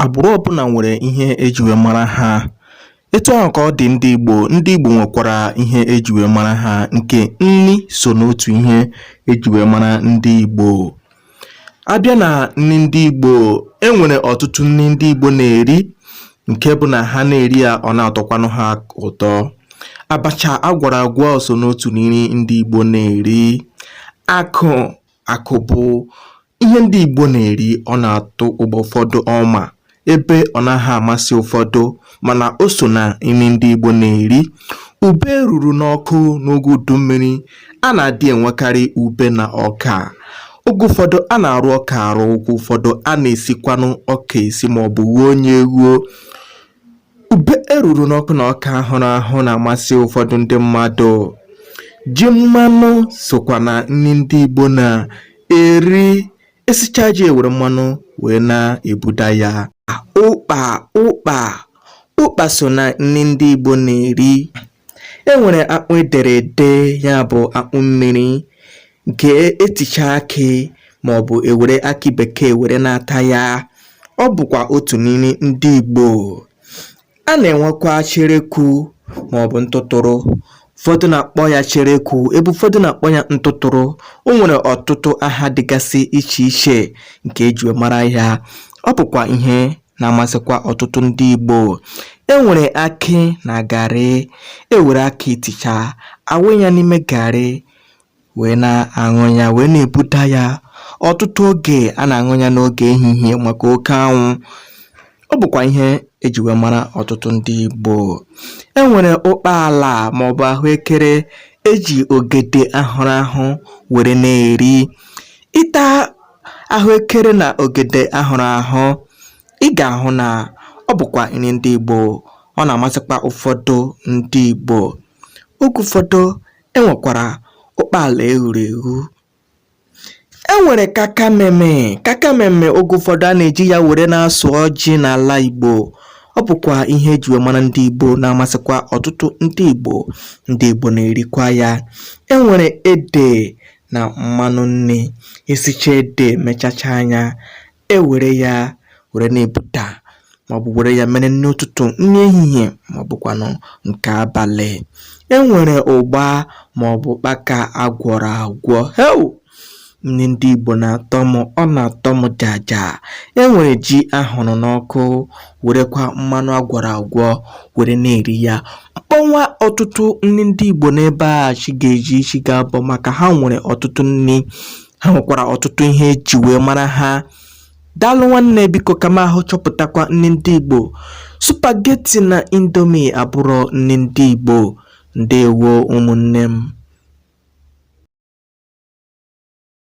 Agbụrụ ọbụla nwere ihe eji wee mara ha. Etu ahụ ka ọ dị ndị Igbo. Ndị Igbo nwekwara ihe eji wee mara ha nke nri so n'otu ihe eji wee mara ndị Igbo. Abịa na nri ndị Igbo, e nwere ọtụtụ nri ndị Igbo na-eri nke bụ na ha na-eri ya ọ na-atọkwanụ ha ụtọ. Abacha agwara agwa so n'otu nri ndị Igbo na-eri. Akụ Akụ bụ ihe ndị Igbo na-eri ọ na-atọgbu ụfọdụ ọma ebe ọ naghị amasị ụfọdụ mana o so na nri ndị Igbo na-eri. Ube eruru n'ọkụ n'oge udu mmiri, a na-adị enwekarị ube na ọka. Oge ụfọdụ a na-arụ ọka arụ, oge ụfọdụ a na-esikwanụ ọka esi maọbụ ghuo ya eghuo. Ube eruru n'ọkụ na ọka ahụrụ ahụ na-amasị ụfọdụ ndị mmadụ. Ji mmanụ sokwa na nri ndị Igbo na-eri. Esichaa ji ewere mmanụ wee na-ebuda ya. Ụkpa ụkpa ụkpa so na nri ndị Igbo na-eri. e nwere akpụ edere ede ya bụ akpụ mmiri nke eticha akị ma ọ bụ ewere akị bekee were na-ata ya ọ bụkwa otu na nri ndị Igbo a na-enwekwa cherekwu ma ọ bụ ntụtụrụ ụfọdụ na-akpọ ya cherekwu ebe ụfọdụ na-akpọ ya ntụtụrụ o nwere ọtụtụ aha dịgasị iche iche nke eji mara ya ọ bụkwa ihe na-amasịkwa ọtụtụ ndị Igbo e nwere akị na garị e were akị ticha awụ ya n'ime garị wee na-aṅụ ya wee na-ebuda ya ọtụtụ oge a na-aṅụ ya n'oge ehihie maka oke anwụ ọ bụkwa ihe eji wee mara ọtụtụ ndị Igbo e nwere ụkpa ala maọbụ ahụekere eji ogede ahụrụ ahụ were na-eri ịta ahụekere na ogede ahụrụ ahụ ị ga-ahụ na ọ bụkwa nri ndị Igbo ọ na-amasịkwa ụfọdụ ndị Igbo oge ụfọdụ enwekwara ụkpaala eghuru eghu enwere kakameme kakameme oge ụfọdụ a na-eji ya were na-asọ ọjị n'ala Igbo ọ bụkwa ihe eji wee mara ndị Igbo na-amasịkwa ọtụtụ ndị Igbo ndị Igbo na-erikwa ya enwere ede na mmanụ nri esicha ede mechachaa ya ewere ya were na-ebuda maọbụ were ya mere nri ụtụtụ nri ehihie maọbụkwanụ nke abalị e nwere ụgba maọbụ ụkpaka agwọrọ agwọ heu nri ndị Igbo na-atọ m ọ na-atọ m jaja e nwere ji ahụrụ n'ọkụ werekwa mmanụ agwọrọ agwọ were na-eri ya m kpọnwa ọtụtụ nri ndị Igbo n'ebe a chi ga-eji chi ga-abọ maka ha nwere ọtụtụ nri ha nwekwara ọtụtụ ihe eji wee mara ha daalụ nwanne biko ka m ahụ chọpụtakwa nri ndị Igbo supageti na indomi abụrụ nri ndị Igbo ndewo ụmụnne m